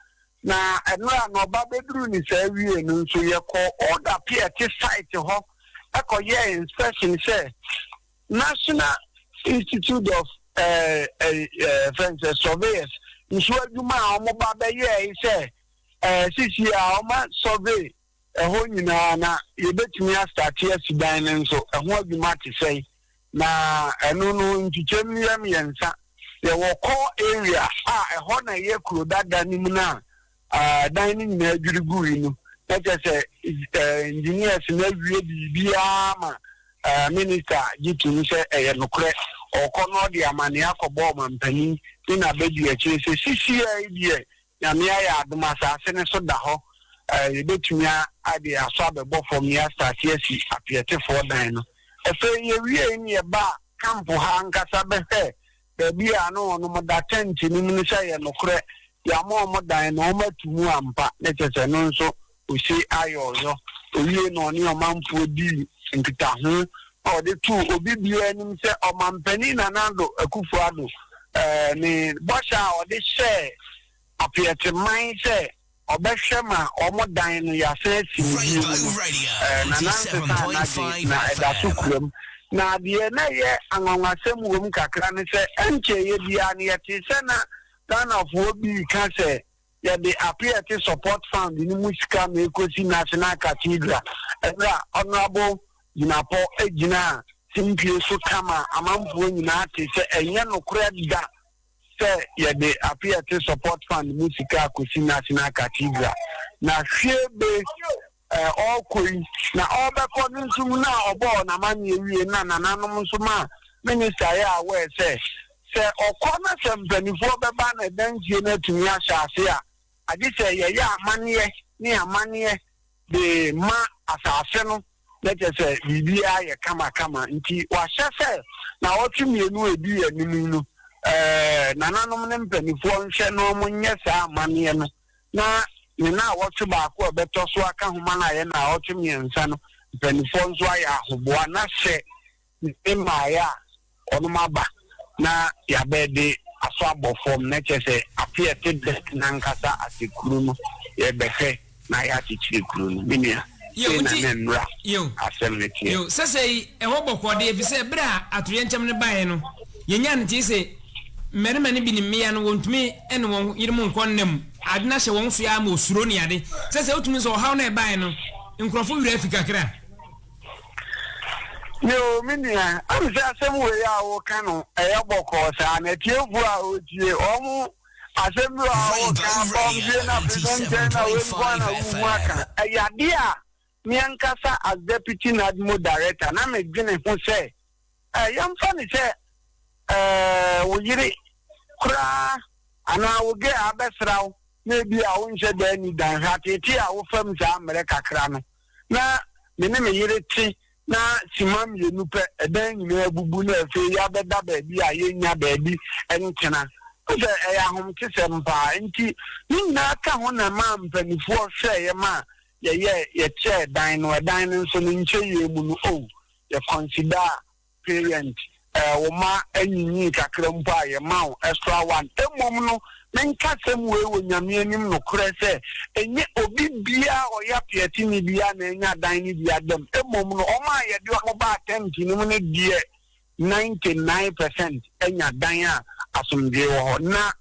S6: Na mmerɛ a na ɔba bɛduruu ne saa wiee no nso, yɛkɔɔ Oda Pierte site hɔ kɔyɛɛ inspection sɛ National Institute of Surveyors nso adwuma a wɔba bɛyɛɛe sɛ sesie a wɔma survey, ɛhɔ nyinaa na yɛbɛtumi astate asi dan no nso. Ɛho adwuma te sɛn? Na ɛno no nkyekyɛm no yɛ mmiɛnsa. Yɛwɔ core area a ɛhɔ na ɛyɛ kuro dada no mu no a dan no nyinaa dwiri gui no, na kyerɛ sɛ engineers no awie biribiara ma minister gye tom sɛ ɛyɛ nokorɛ. Ɔkɔ na ɔde amanneɛ akɔbɔ ɔmampanin ne n'abadiakyire sɛ sisiiɛ yi deɛ Nyame ayɛ adom a asaase no so da hɔ a yɛbɛtumi de asɔ abɛbɔ fam ne asaase asi apeɛtefoɔ dan no. Afei yɛwiee no yɛbaa kampo ha ankasa bɛhwɛɛ baabi a na wɔnom da tɛnte no mu no sɛ ɛyɛ nokorɛ yɛama wɔn dan no wɔatu mu ampa ne kyɛsɛ no nso Osei Ayoh no, owiei na ɔne ɔmanfoɔ dii nkitaho na ɔde too obi biara anim sɛ Ɔmampanin Nana Addo Akufo-Addo ne bɔhyɛ a ɔde hyɛɛ Apeɛte man sɛ ɔbɛhwɛ ma wɔn dan no yɛasan asi no bio mu no, Nana nsesaa n'adwene na ɛda so kura mu. Na deɛ na ɛyɛ anwanwasɛm wom kakra ne sɛ ɛnkyɛeɛ biara no yɛtee sɛ na Ghanafoɔ bi reka sɛ, yɛde Apiete Support Fund no mu sika na ɛrekɔsi National Cathedral, ɛberɛ a Honourable Jinapor gyinaa simpie so ka maa amanfoɔ nyinaa tee sɛ ɛnyɛ nokorɛ da sɛ yɛde Apiete Support Fund mu sika rekɔsi National Cathedral, na hwee be a ɔrekɔ yi na ɔrebɛkɔ no nso mu no a ɔbɔɔ no amanneɛ wiei no na nananom nso maa me ne Sir yɛɛ aware sɛ, sɛ ɔkɔ na sɛ mpanimfoɔ bɛba na dansie no atumi ahyɛ ase a, agye sɛ yɛyɛ amanneɛ ne amanneɛ de ma asase no na kyerɛ sɛ biribiara ayɛ kamakama. Nti wɔahyɛ sɛ nnawɔtwe mmienu a ɛdi anim yi no, nananom ne mpanimfoɔ nhwɛ na wɔnyɛ saa amanneɛ no. na ne naawɔtwe baako a ɛbɛtɔ so aka ho ma no ayɛ naawɔtwe mmiɛnsa no mpanimfoɔ nso ayɛ ahoboa na sɛ ne mmaeɛ a ɔno maba na yɛabɛ de aso abɔ fam na kyɛ sɛ afe a ɛte dɛt no ankasa ase kuro no yɛbɛhwɛ na ayɛ akyekyere kuro no menua. Sei na ne mmara asɛm no teɛ. Yiw, sɛsɛɛ yi ɛwɔ bɔkɔɔ
S1: de, efisɛ bere a atoyerɛnkyɛm no bae no, yenyaa ntetee se mmarima no bi ne mmea no wontumi ne wɔn yerenom nkɔ nna mu. Ade no ahyɛ wɔn so araa ma osuro ne ade. Sɛsɛɛ wotumi hu sɛ ɔhaw no a ɛbae no, nkurɔfo werɛ afi kakra.
S6: Yiw, me nua, ɛwom sɛ asɛm wei a woreka no yɛ bɔkɔɔ saa na atiefo a wɔretie wɔn Asɛm bi wɔ hɔ a woka bɔmm wie no afei no ntɛn na wei nko ara na wuhu aka. Ɛyɛ ade a me ankasa as Deputy NADMO Director na medwene ho sɛ eh yɛmfa no sɛ eh wo yere koraa anaa wo girl abɛsra wo na ebia wonhyɛ da nni dan, hwɛ ateetee a wofam saa mmerɛ kakra no. na me ne me yere te na simma mmienu pɛ, ɛdan nyinaa abubu na afei yɛabɛda baabi a yɛnnya baabi ntena. Wohu sɛ ɛyɛ ahomtesɛm paa. Enti ne nyinaa ka ho na ɛmaa mpaninfoɔ hwɛeɛ ma yɛyɛɛ, yɛkyɛɛ dan no. Ɛdan no nso, ne nkyɛeɛ mu no, oh, yɛ consider Parent, Eh, wo mma anyinyii kakra mpo a, yɛma wo extra one. Mmom no, menka asɛm wei wɔ Nyame anim nokorɛ sɛ, ɛnyɛ obi biara a ɔyɛ apeateni biara na anya adan no bi ada mu, mmom no, wɔn a yɛde wɔn baa tɛnt no mu no deɛ, ninety nine percent anya dan a asomdwoeɛ wɔ hɔ. Na,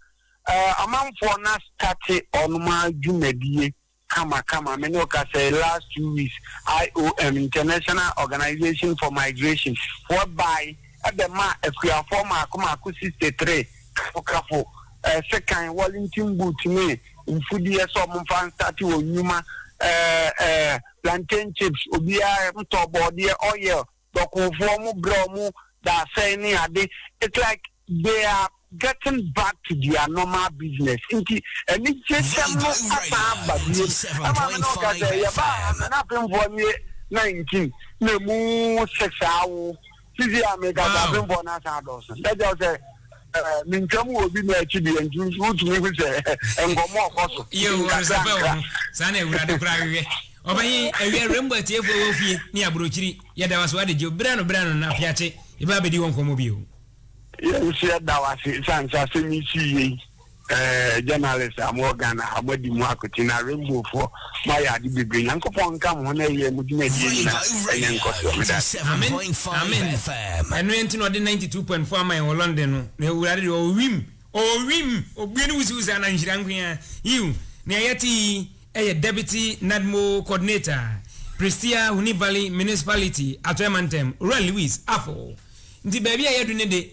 S6: eh, amanfoɔ no astate wɔn ara dwumadie. kama kama me ne wo kasa yi last two weeks IOM International Organization for Migration foɔ bae ɛbɛ maa akuafoɔ maako maako sixty three kafo kafo ɛɛ sekan Wellington boot ne mfudeɛ sɛ ɔmo nfa nsate wɔn nnwuma ɛɛ ɛɛ plantain chips obiara ntɔ bɔɔdeɛ oil. dɔkofoɔ ɔmo brɛ ɔmo dasɛn ne ade it's like they are getting back to their normal business nti anigyesɛm no asan aba biom ɛma me ne wo ka sɛ yɛbaa ha me ne apemfoɔ no yɛ nineteen na emu six awo sisi a meka sɛ apemfoɔ no asan adɔɔso ɛkyɛw sɛ ne ntam wɔ obi na akyi deɛ nti wotumi hu sɛ nkɔmmɔ ɔkɔ so nkakrankra
S1: saa na awurade koraa hwehwɛ ɔbɛnye awia rainbow atiefoɔ wɔ fie ne aburokyiri yɛda wase wade gye berɛ no berɛ no na afiakye yɛbɛba bɛdi wɔ nkɔmmɔ bio yɛn nso
S6: yɛda wase sane sɛ asɛm yi sii yei Eh journalist a mowɔ Ghana ha, moadi mu akoten na Rainbow foɔ moayɛ ade bebree. Nyankopɔn nka mo ho na ɛyɛ mo dwumadie nyina ɛnyɛ nkɔsoɔ.
S5: Meda ase. Amen amen ɛno nti na ɔde ninety
S1: two point four ama yɛn wɔ London no na awurade deɛ ɔwɔ wim ɔwɔ wim obue ne wusiwusi ana nhyira nkoaa yiw nea yɛte yi yɛ Deputy NADMO Coordinator Prestea Huni Valley Municipality Atɔe Mantam Owura Lewis Afo nti baabi a yɛadu ne de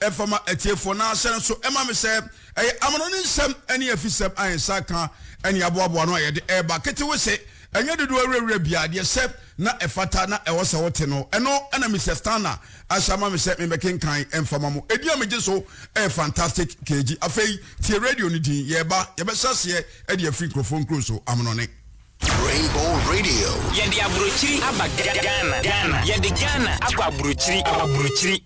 S8: Ɛfa ma atiefoɔ no ara sɛ nso ɛma me sɛ ɛyɛ amanɔne nsɛm ne afisɛm a yɛn nsa aka ne aboaboa ano a yɛde reba. Ketewese, ɛnyɛ dodoɔ awurawura biara, deɛ ɛsɛ na ɛfata na ɛwɔ sɛ wote no, ɛno na Mister Stanna ahyɛ ama me sɛ memmɛkenkan mfa ma mo. Ɛdin a megye so yɛ Fantastic KG. Afei tie radio no din. Yɛreba, yɛbɛhyɛ aseɛ de afiri nkurɔfoɔ nkuro so. Amanɔne. Rainbow
S5: Radio. Yɛde aburokyiri
S9: aba Ga Ghana Ghana Yɛde Ghana akɔ aburokyiri aburokyiri.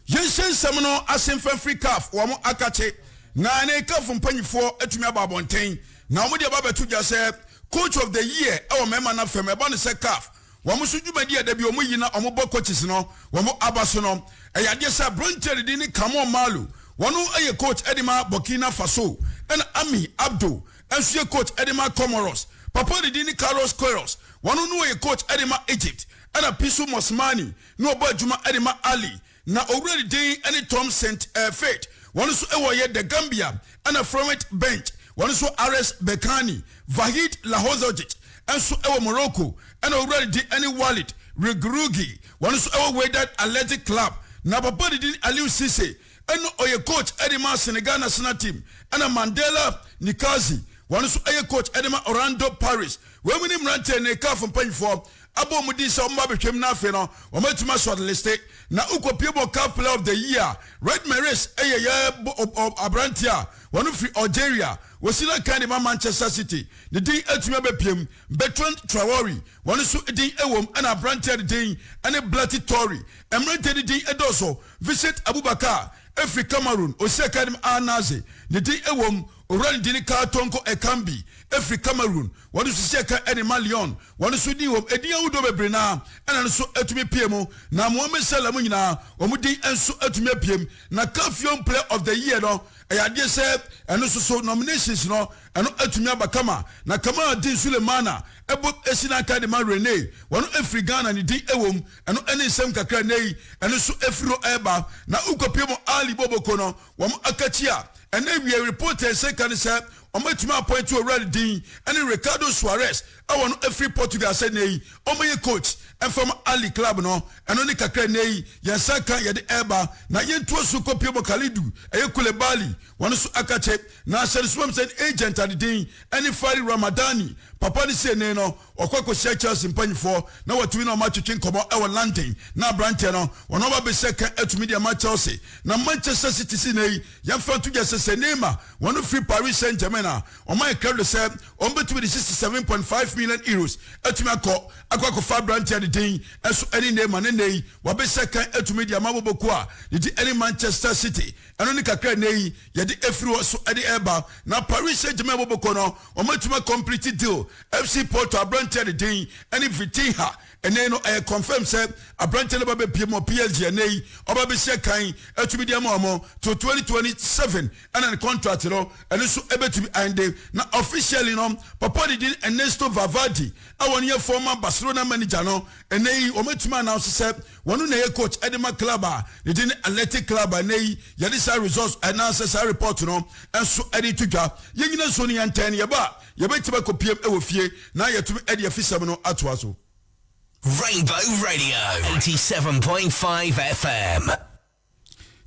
S9: Yɛnhyɛ
S8: nsɛm no ase mfa mfiri caf wɔn akakye na ne caf mpanyifoɔ atumi aba abɔnten na wɔn de aba abɛto dwa sɛ coach of the year wɔ mmarima no fam ɛba no sɛ caf wɔn so dwumadi a da bi wɔn yi na wɔn bɔ coaches no wɔn aba so no ɛyɛ adeɛ sɛ aberanteɛ no din ne Kamon Malu wɔn yɛ coach de ma Burkina Faso ɛna Ami Abdo nso yɛ coach de ma Comoros papa no din ne Carlos Queiroz wɔn no yɛ coach de ma Egypt ɛna Pisu Mosmani na ɔbɔ adwuma de ma Ali, na owura ne din ne Tom Saint Fate, wɔn nso wɔ yɛ The Gambia, ɛna Florent Bench, wɔn nso Ares Berkane, Vahid Lahozodjic nso wɔ Morocco, ɛna owura ne din ne Walid Regrugui, wɔn nso wɔ Wydad Athletic Club, na papa ne din Aliou Cisse, ɛna ɔyɛ coach de ma Senegal national team, ɛna Mandela Nikazi, wɔn nso yɛ coach de ma Orlando Pirates. Wei mu ne mmeranteɛ ne CAF mpanyinfoɔ abɔ wɔn din sɛ wɔn ba bɛtwam na afei no wɔn atumi asɔre liste na wokɔ pie bɔ caf player of the year red maris ɛyɛ yɛ aberanteɛ a wɔn firi algeria wɔsi na kan de ma manchester city ne din atumi abɛpiam bertrand traore wɔn nso din ɛwom ɛna aberanteɛ ne din ɛne blati tori mmeranteɛ ne din ɛdɔɔso vincent abubakar ɛfiri cameroon ɔsi akan de ma al nazi ne din ɛwom Owura no de ne kaa tɔɔ nkɔ ɛkan bi firi Cameroon, wɔn nso sisi ɛkan de ma Lyon, wɔn nso din wɔ mu, edin ahodoɔ bebree no ara na no nso atumi pue mu, na Mohamed Salah mu nyinaa wɔn din nso atumi apue mu. Na CAF Young Player of the Year no, ɛyɛ adeɛ sɛ ɛno nso so nominations no, ɛno atumi aba kama. Na Kamal Din Sulemana bɔ si n'akan de ma Rennes, wɔn firi Ghana, ne din wɔ mu, ɛno ne nsɛm kakra, nnɛ yi ɛno nso afiri hɔ reba, na wokɔpue mu a Ali Boboko no, Wɔn akatua a ɛna awiei report a ɛsɛ ka ne sɛ wɔatumi appoint owura no din ne Ricardo Soares a wɔno afiri Portugal sɛ nnɛ yi ɔmmɛyɛ coach mfa ma Ahly club no. Ɛno ne kakra a nnɛ yi yɛn nsa aka a yɛde reba na yɛntoa so kɔpie mu. Kalidou, ɛyɛ Koulibaly, wɔno nso akakye na ahyɛne so mam sɛ ne agent ade din ɛne Fari Ramadani. Papa no sei nnee no, wɔkɔ akɔhyia Chelsea mpanimfoɔ na wɔatumi ne wɔn atwetwe nkɔmmɔ wɔ London. Na aberanteɛ no, wɔn aba abɛhyɛ ka atumi de ama Chelsea. Na Manchester City sei nnɛ yi, yɛmfa nto dwa sɛ sɛ Neymar, wɔn firi Paris Saint Germain a, wɔma yɛn credit sɛ wɔbɛtumi de sixty seven point five million euros atumi akɔ akɔ akɔfa aberanteɛ no din nso ɛne Neymar. Na nnɛ yi, wɔabɛhyɛ ka atumi de ama abɔbɔkuo a ne din ɛne Manchester City. Ɛno ne kakra a nnɛ yi. yɛde afiri hɔ so de reba na Paris Saint-Germain a wɔbɛkɔ no wɔatumi akɔmplete deal. FC Porto aberanteɛ a ne din ne Vitinha ɛnɛ no ɛyɛ confirm sɛ aberanteɛ no ba bɛpiem wɔ PSG ɛnɛ yi ɔba bɛsi akan atumi de ama wɔn to 2027 ɛna ne contract no ɛno nso ɛbɛtumi ɛnde na officially no papa ne din Ernesto Valverde a wɔn yɛ former Barcelona manager no Ɛnnɛ yi, wɔatumi announce sɛ wɔn na ɛyɛ coach de ma club a ne din ne Athletic Club a ɛnnɛ yi yɛde saa results anaasɛ saa report no nso de reto dwa. Yɛn nyina nsuo no yɛntɛn no yɛba a, yɛbɛtumi akɔ pm wɔ fie na yɛatumi de afisɛm no atoa so. Rainbow
S5: Radio 87.5 FM.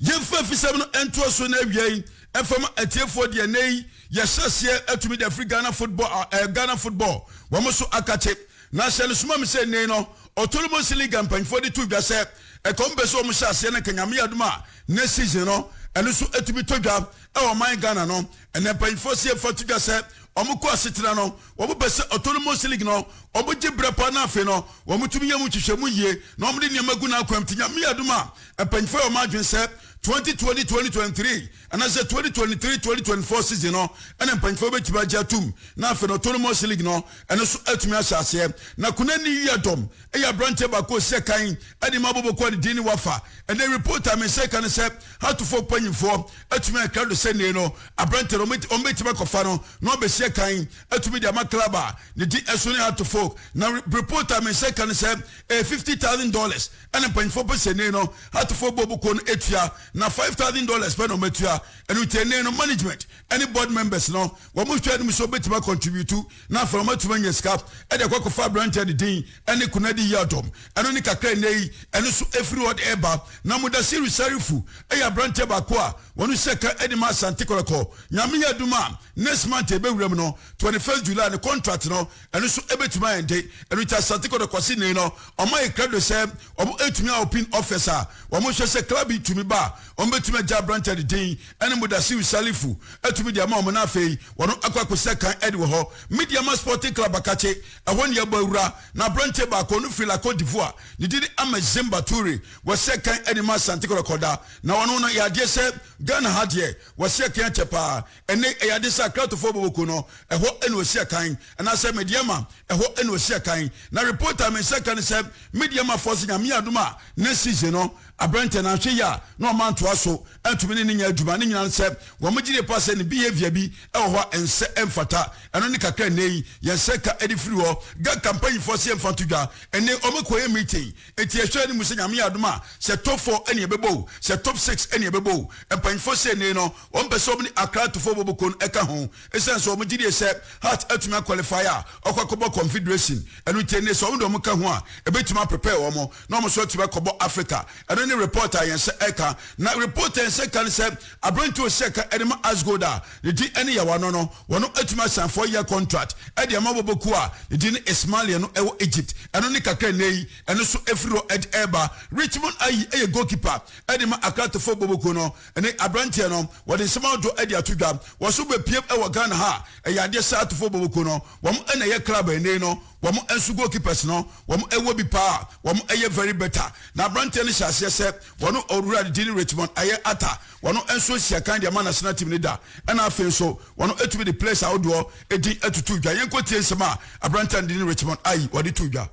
S8: Yɛmfa afisɛm no ntoa so na awiei ɛmfa ma atiefoɔ deɛ nnɛ yi yɛhyɛ aseɛ atumi de afiri Ghana football a ɛyɛ Ghana football wɔn so akakye. Na hyɛ no soma me sɛ nnɛyi no Otolomonsi League a mpanyinfoɔ de to dwa sɛ ɛka wɔn pɛ sɛ wɔn hyɛ aseɛ no nka Nyame yɛ adom a nnɛ season no ɛno nso atumi tɔ dwa ɛwɔ ɔman Ghana no ɛnɛ mpanyinfoɔ se yɛmfa to dwa sɛ wɔn kɔ asetena no wɔn pɛ sɛ Otolomonsi League no wɔn gye berɛ paa na afei no wɔn tumi yɛ mu nhwehwɛmu yie na wɔn de nneɛma gu n'akwam nti Nyame yɛ adom a Mpanyimfo a wɔn adwene sɛ 2020 2023 anaasɛ 2023 2024 season no na mpanyimfo betumi agye atom na afei no autonomous league no ɛno nso atumi ahyɛ aseɛ na Kunani Yiadom yɛ aberanteɛ baako a ɔsi akan de ma Boboko a ne din ne Wafa ɛnna report a me nsa ka no sɛ Hatofoɔ mpanyimfoɔ atumi ayɛ krado sɛ nnei no aberanteɛ no wɔbɛtumi akɔfa no na wabɛsi akan atumi de ama club a ne din ɛso ne Hatofoɔ na report a me nsa ka no sɛ ɛyɛ fifty thousand dollars ɛna mpanyinfoɔ pɛ sɛ nnee no atofoɔ bɔ bukuo no tua na five thousand dollars pɛ na wɔn atua ɛnu nti nnee no management ɛne board members no wɔn mo hwɛ anim sɛ wɔbɛtumi akɔntribiutu na afɛn wɔn atumi anya sika ɛde akɔ akɔfa aberanteɛ ne din ɛne kunadi yi adɔm ɛno ne kakra nnɛ yi ɛno so efiri hɔ de ɛba na mudasiri sarifu ɛyɛ aberanteɛ baako a wɔn hyɛ ka ɛde ma asante kɔlɔkɔ nyame yɛ adum a next month ɛbɛwura mu no twenty first july ne contract no ɛno nso ɛbɛtumi ayɛ nte ɛno nti asante kɔdɔ kwasi nnei no ɔma yɛ krado sɛ wɔn ɛtumi a opin office a wɔn hwɛ sɛ club yi tumi ba wɔn bɛtumi agya aberantɛ de din ɛne mudasiu salifu ɛtumi de ama wɔn na afei wɔn akɔ akɔsɛ kan ɛde wɔ hɔ mediama sporting club akakye ɛhɔ ne yɛbɔ awura na aberantɛ baako no firi lako divoa ne dini ama zimba ture wɔsɛ kan ɛde ma asante kɔdɔ kɔda na wɔn no yɛ adeɛ sɛ ghana ha deɛ wɔsɛ kan akyɛ paa Ɛnne yɛ ade sɛ akratofoɔ bɔ boku no, ɛhɔ na wɔsi akan, anaasɛ Mediama, ɛhɔ na wɔsi akan. Na report a me nsa ka ne sɛ Mediamafoɔ se Nyame adom a na season no aberanteɛ no anhwɛ yie a na ɔmma ntoa so antumi ne no nyɛ adwuma. Ne nyinaa ne sɛ wɔn gye die paa sɛ ne behaviour bi wɔ hɔ a ɛnsɛ, ɛmfata. Ɛno ne kakra a nnɛ yi yɛn nsa ka de firi hɔ. Ga kampanyifoɔ se yɛmfa nto dwa. Ɛnne wɔkɔ yɛ meeting. Enti ɛhwɛ anim sɛ Nyame yɛ adom a, sɛ top four ɛne ɛbɛbɔ o, sɛ top six ɛne ɛbɛbɔ o. Mpanyinfoɔ sei nei no, wɔn pɛ sɛ wɔn ne Accra Tufo bɔ boko no ɛka ho. Esiane sɛ wɔn gyedie sɛ Hearts atumi a qualify a, ɔkɔ akɔbɔ Confederation. Ɛno nti ɛnnɛ sɛ wɔn de wɔn ka ho a, ɛbɛtumi a prepare wɔn na wɔn nso atumi akɔbɔ Africa. Ɛno ne report a yɛn nsa ɛka. Na report a yɛn nsa ɛka ne sɛ, aberanteɛ a ɔsi ɛka ɛde ma Asgold a, ne din ne Yawano no, wɔatumi asan four-year contract de ama abɔbɔkuo a ne din ne Ismalia no wɔ Egypt. Ɛno ne kakra a nnɛyi ɛno nso afiri hɔ de reba. Richmond Ayi yɛ goalkeeper de ma Accra Tefo abɔbɔkuo no. Ɛnnɛ yi aberanteɛ no, wɔde nsɛm ahodoɔ de ato dwa. Wɔso bɛpue wɔ Ghana ha a, ɛyɛ adeɛ saa Tefo abɔbɔkuo no, wɔn na ɛyɛ club a ɛnnɛyi no, wɔn nso goalkeepers no wɔn wɔ bi paa wɔn yɛ very better na abranteɛ no hyɛ aseɛ sɛ wɔn owura ne din Richmond ayɛ ata wɔn nso nhyia kan de ama national team no da ɛna afei nso wɔn atumi de players ahodoɔ edin atutu dwa yɛn kɔ tie nsɛm a abranteɛ no din Richmond ayi wɔde to dwa.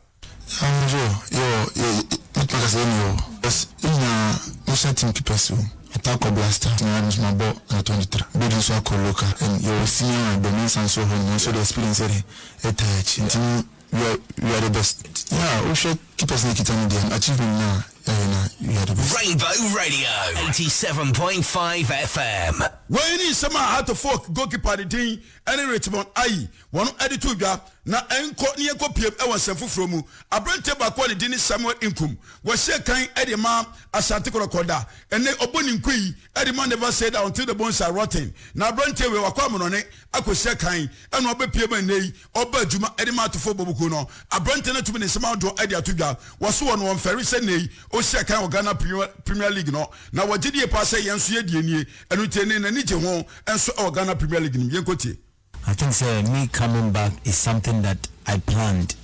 S8: Yɛnhwɛ o, yɛwɔ yɛ
S10: mɛtumi aka sɛ yɛne yɛwɔ because yɛn nyinaa national team keepers wɔ mu. Ata akɔ Blaster na me nso mabɔ under twenty three, Bedi nso akɔ local and yɛwɔ senior and Domensa nso wɔ hɔ nom ɔno nso ɔde experience yɛ dɛn ɛtaa akyi. Nti no we are we are the best yeah wohwɛ key person a ɛkita no deɛ no achievement no a yɛayɛ no a we are the best. Rainbow
S5: Radio 87.5 FM. Wei ne nsɛm a
S8: Heart of Folk goalkeeper a ne din ne Richmond Ayi wɔn de too dwa. Na ɛnkɔ na yɛnkɔ piem wɔ nsɛm foforɔ mu. Aberanteɛ baako a ne din ne Samuel Nkum, wɔhyɛɛ kan de ma Asante Kɔtɔkɔ da. Ɛnnɛ ɔbɔ ne nku yi de ma Never Say Die Until the Bones Are Rotten. Na aberanteɛ wei wakɔ amonɔne akɔhyia kan ɛna ɔbɛpue ma nnɛ yi ɔba adwuma de ma atofo bɔ buku no. Aberante no atumi ne nsɛm ahodoɔ de ato dwa. Wɔso wɔn wɔ mfɛre sɛ nnɛ yi ɔhyia kan wɔ Ghana Premier League no na wɔgye die paa sɛ yɛn nso yɛ deɛ nie. Ɛno nti ɛnnɛ n'ani gye ho nso wɔ Ghana Premier League no mu. Yɛnkɔtie. I think sɛ
S10: me coming back is something that I planned.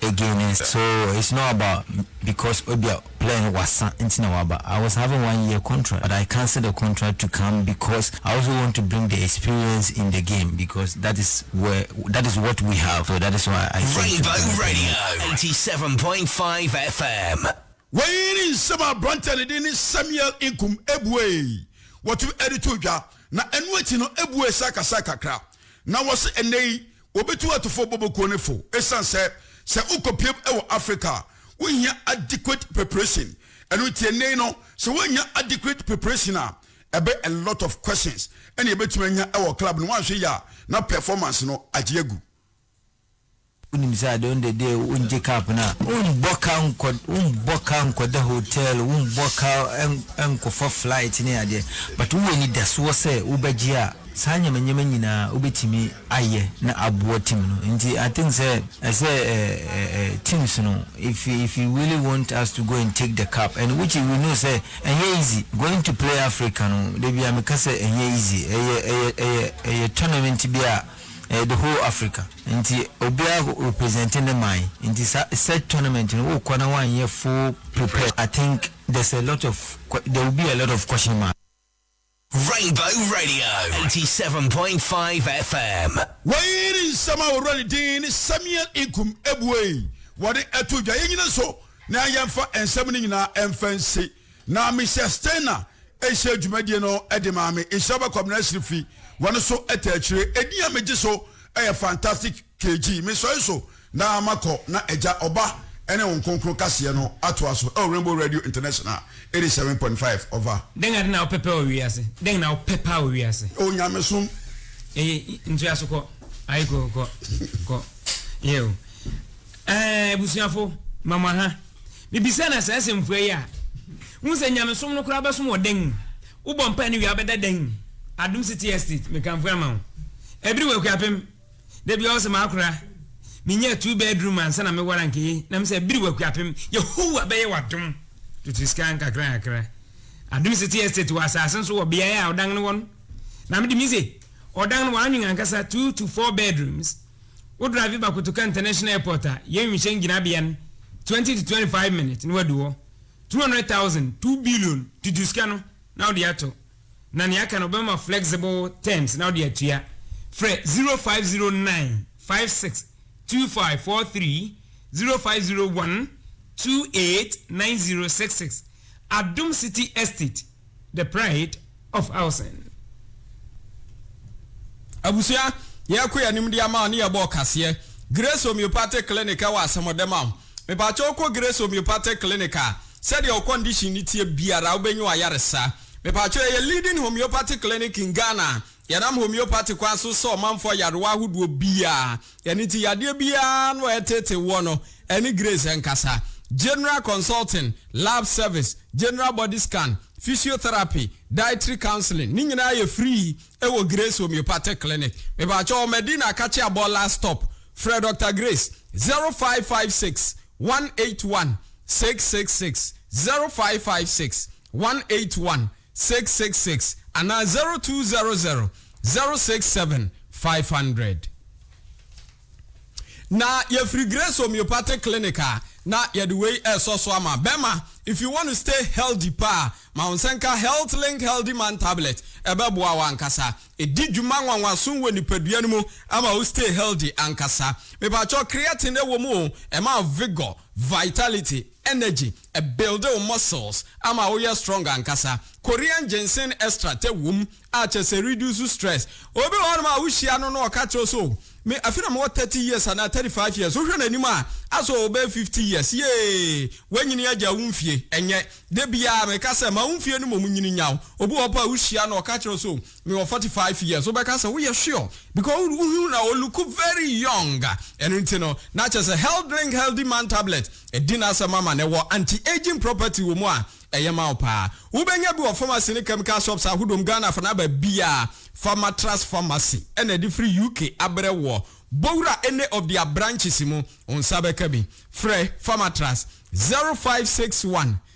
S10: Again eh so it's not about because ebia player no wasa nti na waba I was having one year contract but I cancelled the contract to come because I also want to bring the experience in the game because that is where that is what we have so that is why I came to Rainbow Ghana Premier
S5: Radio League. 87.5 FM. Wei ne
S8: nsɛm a aberanteɛ ne din ne Samuel Nkum ebuee wɔto ɛde too dwa na ɛno akyi no ebuee sɛ akasa kakra na wɔse ɛnɛ yi Wobetu atufo bobokuo no fo esiane sɛ sɛ wokɔpiem wɔ Afrika a, wonhia adequate preparation. Ɛno nti ɛnnɛ yi no, sɛ woannya adequate preparation a, ɛbɛ a lot of questions na yɛbɛtumi anya wɔ club no, woanhwɛ yie a na performance no agye agu.
S10: Wonim sɛ ade ɔndɛ deɛ wongye cup no a, wombɔ ka nkɔ wombɔ ka nkɔda hotel, wombɔ ka nkɔfa flight ne adeɛ, but wowɔ anidasoɔ sɛ wobɛgye a, saa nyamanyama nyinaa wobɛtumi. ayɛ na aboa team no nti I think sɛ ɛsɛ teams no if if you really want us to go and take the cup and which we know sɛ ɛnyɛ easy going to play Africa no dabia meka sɛ ɛnyɛ easy ɛyɛ ɛyɛ ɛyɛ ɛyɛ tournament bi a ɛyɛ the whole Africa nti obia represent ne man nti sa such tournament no wokɔ na wanyɛ full prepare I think there's a lot of there will be a lot of question mark. Rainbow
S5: Radio 87.5 FM. Wei ne nsɛm
S8: a ɔwura ne din ne Samuel Nkum abuei wɔde ato dwa. Yɛnyina nso na yɛmfa nsɛm no nyinaa mfa nsi. Na Mister Steiner nhyɛ dwumadie no de maa me. Nhyira ba Kwabena Asiri fi wɔn so ta akyire. Edin a megye so yɛ Fantastic KG. Mesɔre so. Na makɔ na Agya, Ɔba, ne Honhom Kronkron kaseɛ no atoa so wɔ Rainbow Radio International eighty seven point five ɔva. Dɛn ade na wopɛpɛ wɔ
S1: wiase? Dɛn na wopɛ paa wɔ wiase? O nyamesom.
S8: Eye,
S1: ntua so kɔ. Aye kɔ, kɔ, kɔ. Yɛ o. Ɛɛ, abusuafo, ma mo aha. Mibisa na saa asɛmfua yi a, wohu sɛ nyamesom no koraa bɛsom wɔ dɛn? Wobɔ mpae no wie a, wobɛda dɛn? Adom City Estate, mekamfo ama wo. Ɛbere wɔ Akuapem. Da biara ɔse makora menya two bedroom ansa na meware anka eyi na mesɛ biriw akuapem Yehowa bɛyɛ w'adom tutu sika nkakra nkakra Adom City Estate wɔ asase nso wɔ beaeɛ a ɔdan no wɔ no na mede mise ɔdan no w'anwen ankasa two to four bedrooms wo drive ba Kotoka International Airport a yɛn wimhyɛn gyinabea no twenty to twenty five minutes na wadu hɔ two hundred thousand two billion tutu sika no na wode ato na nea aka no wɔbɛma flexible terms na wode atua. Frɛ 0509 56 2543, 0501 28 9066. Adom City Estate, the pride of housing.
S3: Abusua, yɛkɔ yɛn anim de ama ne yɛbɔ ɔkaseɛ. Grace Homeopathic Clinic ɛwɔ asɛmɔdɛm a. Mepakyɛ wokɔ Grace Homeopathic Clinic a, sɛdeɛ wo condition no teɛ biara wobɛnya w'ayaresa. Mepakyɛw yɛyɛ leading homeopathy clinic in Ghana, yɛnam homeopathy kwan so sɛ ɔmanfoɔ ayarewa ahodoɔ biaa, ɛno nti yadeɛ biaa no a ɛtetee woɔ no ɛne Grace nkasa, general consulting, lab service, general body scan, physiotherapy, dietary counseling ne nyinaa yɛ free wɔ Grace homeopathic clinic. Mepakyɛw ɔ Medina Kakyabɔ last stop, frɛ Dr Grace 0556 181 666, 0556 one eight one six six six anaa zero two zero zero zero six seven five hundred. Na yɛfiri Grace Homeopathic Clinic a na yɛde wei ɛresɔ so ama bɛma if you want to stay healthy paa ma wo nsa nka Health Link Healthy Man Tablet ɛbɛboa wo ankasa ɛdi dwuma nwanwaso wɔ nipadua no mu ama wo stay healthy ankasa. Mepakyɛ creatine ɛwɔ mu o ɛma vigor, vitality, energy. Ɛbuilde wo muscles ama wo yɛ strong ankasa. Korean ginseng extract wom a kyerɛ sɛ ɛreduce stress. Obi wɔ hɔnom a wo hyia no na ɔka kyerɛ wo sɛ oh me afe na me wɔ thirty years anaa thirty five years wo hwɛ no anim a asɛ ɔwɔ bɛyɛ fifty years yee wanyini agya wo mfie ɛnyɛ da biara meka sɛ ma wo mfie no mmom nyini nyaw obi wɔ hɔ mpo a wo hyia no ɔka kyerɛ wo sɛ oh Me wɔ forty five years wobɛka sɛ woyɛ sure because wo ho na o look very young ɛno nti no na kyerɛ sɛ health drink healthy man tablet ɛdi n'asɛm ama no ɛwɔ anti aging property wɔ mu a ɛyɛ ma wo paa wobɛnya bi wɔ pharmacy ne chemical shops ahodoɔ mu Ghana fana baabiaa Pharmatras pharmacy ɛna ɛde firi UK abrɛ woɔ bɔ wura any of their branches mu wo nsa bɛka bi frɛ Pharmatras zero five six one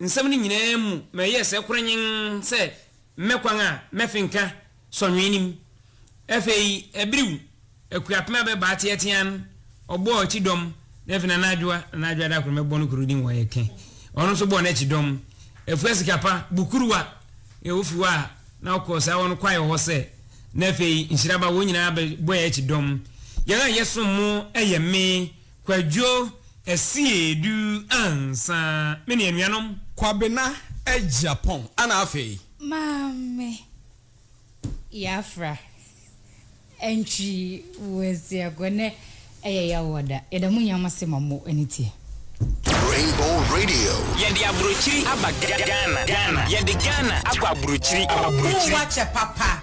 S1: nsɛm no nyinaa mu ma ɛyɛɛ sɛ koranyenn sɛ mmɛ kwan a mɛfenka sɔnhwee no mu. Afei Abiriw, Akuapem a bɛbaa teatea no, ɔbɔɔ akyi dɔm, na afei Nana Adwoa, Nana Adwoa Daakoro mɛbɔ no koro din wɔ ha kɛ, ɔno nso bɔɔ n'akyi dɔm. Afua Sikapa, Bukuruwa, yɛ ofi hɔ a na ɔkɔɔ saa hɔ no kwae wɔ hɔ sɛ, na afei Nhyiraba, wɔn nyinaa bɛ bɔɛ akyi dɔm. Yɛn a yɛsom mo yɛ me, Kwadwo, Asie du ansa me ne anuanom. Kwabena,
S3: Agyapong ana afei? Maame,
S2: Yafra, Antwi wo asiago nɛ ɛyɛ yaw wɔ da yɛda mo nyinaa mo ase ma mo ani teɛ. Rainbow
S5: Radio. Yɛde aburokyiri
S9: aba Ghana. Yɛde Ghana
S11: akɔ
S9: aburokyiri. Aburokyiri. Wo ho akyɛ
S11: papa.